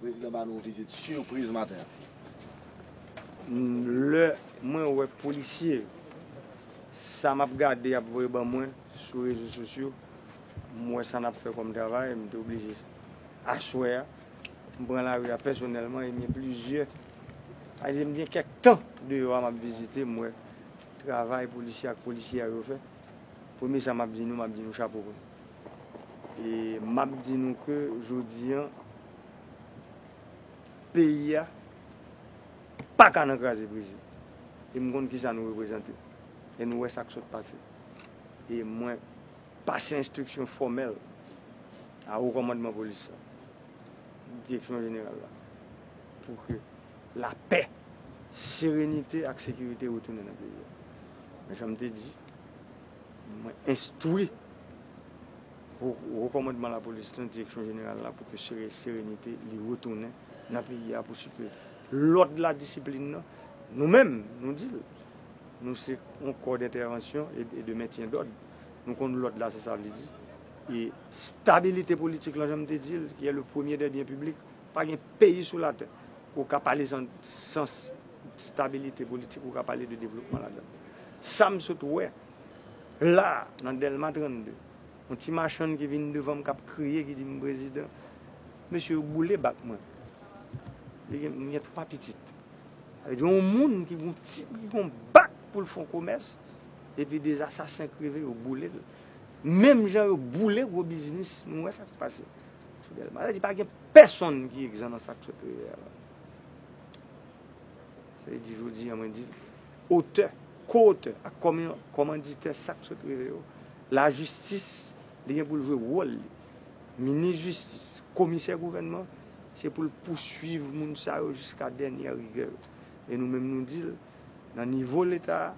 Prezidan ba nou vizit sipriz maten an. Lè mwen wè polisye yo, sa m ap gade y ap voye ban mwen sou rezo sosyo, m wè sa n ap fè kòm travay, m te oblije aswè a. M pran lari a pèsonèlman ebyen plizyè ayisyen m gen kèk tan deyò a m ap vizite m wè travay polisye ak polisyè yo fè premye sa m ap di nou m ap di nou chapo pou nou e m ap di nou ke jodi an peyi a paka nan kraze brize e m konn kisa nou reprezante e nou wè sa k sot pase e mwen. Pase enstriksyon fòmèl a Wo Kòmandman Polis la, Direksyon Jeneral la, pou ke lapè, serenite ak sekirite retounen nan peyi a. Men jan m te di, mwen enstwi Wo Kòmandman Lapolis la, Direksyon Jeneral la, pou ke serenite li retounen nan peyi a, pou si ke lòd la, disiplin nan, nou menm, nou di l, nou se yon kò dentèvansyon e de mentyen dòd. Nou konn lòd la se sa vle di. E stabilite politik lan, jan m te di l, ki e le premye dè byen piblik, pa gen peyi sou latè ke w ka pale san stabilite politik, ou ka pale de devlopman ladan l. Sa m sot wè la a, nan Dèlma 32, yon ti machann ki vin devan m k ap kriye, ki di m, Prezidan, mesye yo boule bak mwen. M gen twa pitit. Sa vle di yon moun ki gen yon bak pou l fè yon komès, Epi 2 asasen kreve yo boule l menm jan yo boule gwo biznis nou wè sak pase sou delma sa vle di pa gen pèsonn ki egzan nan sak sot rive a la sa vle di jodi an mwen di otè ko otè ak kòmanditè sak sot rive yo lajistis li gen pou l jwe wòl li minis jistis komisè gouvènman se pou l pouswiv moun sa yo jiska dènyè rigè yo e nou menm nou di l. Nan nivo leta a,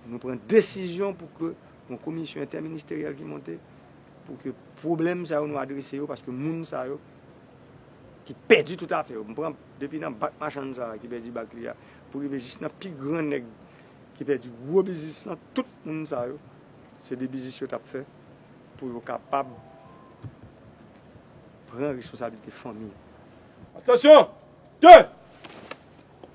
nou pran desizyon pou ke yon komisyon entèministeryèl ki monte, pou ke pwoblèm sa yo nou adrese yo, paske moun sa yo ki pèdi tout afè yo, m pran depi nan bak machann sa a ki pèdi bak li a, pou rive jis nan pi gran nèg ki pèdi gwo biznis lan, tout moun sa yo, se de biznis yo t ap fè pou yo kapab pran responsabilite fanmi yo. Atansyon! 2!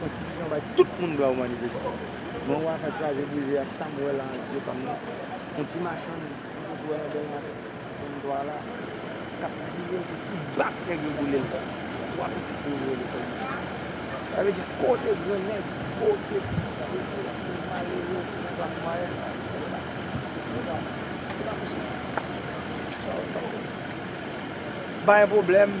Konstitisyon bay tout moun dwa ou manifeste. Men ou afè kraze brize a sam wè la ak zye pam nan on ti machann m toujou wè nan delmas 33 la kap kriye pou ti bak nèg yo boulel kay li. 3 pitit li yo voye lekòl mechan. Sa vle di kote gran nèg, kote pitit sa vle voye ak moun malere ou moun klas mwayèn la pou fè sa. Se pa se pa posib. Sa yo t ap fè. Bay pwoblèm.